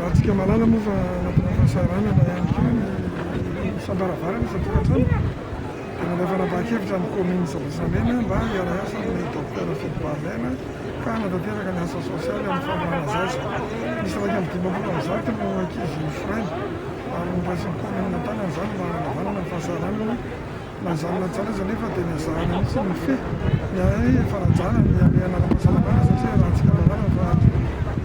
Ratsika malala moa fa anatina fahasahiranana ihany koa ny isam-baravarana, isan-tokantrano. Dia nandray fanapahan-kevitra ny kaominina Sabosamena mba hiara-hiasa amin'ny Docteur Fidy Barrère ka hanatanteraka ny asa sosialy amin'ny famoahana zaza. Miisa iraika amby dimampolo amin'ny zato no ankizy foraina ary noraisin'ny kaominina an-tanana izany mba hanavanana ny fahasahiranana. Na izany na izany aza anefa dia ny hazàna mihitsy no mifehy ny ahy fanajana ny hamehana ara-pahasalamana satria arahantsika lalàna fa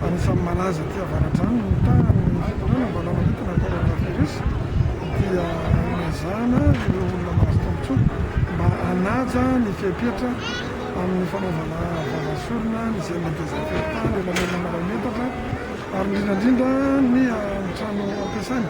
anisan'ny malaza aty Avaradrano ny mitaha ny fitondrana mba hanamaritana ny coronavirus dia ny hazàna ireo olona mahazo tombontsoa mba hanaja ny fepetra amin'ny fanaovana vava sy orona ny izay mandeha zafiratany, ny lanonana iray metatra ary indrindra indrindra ny trano ampiasaina.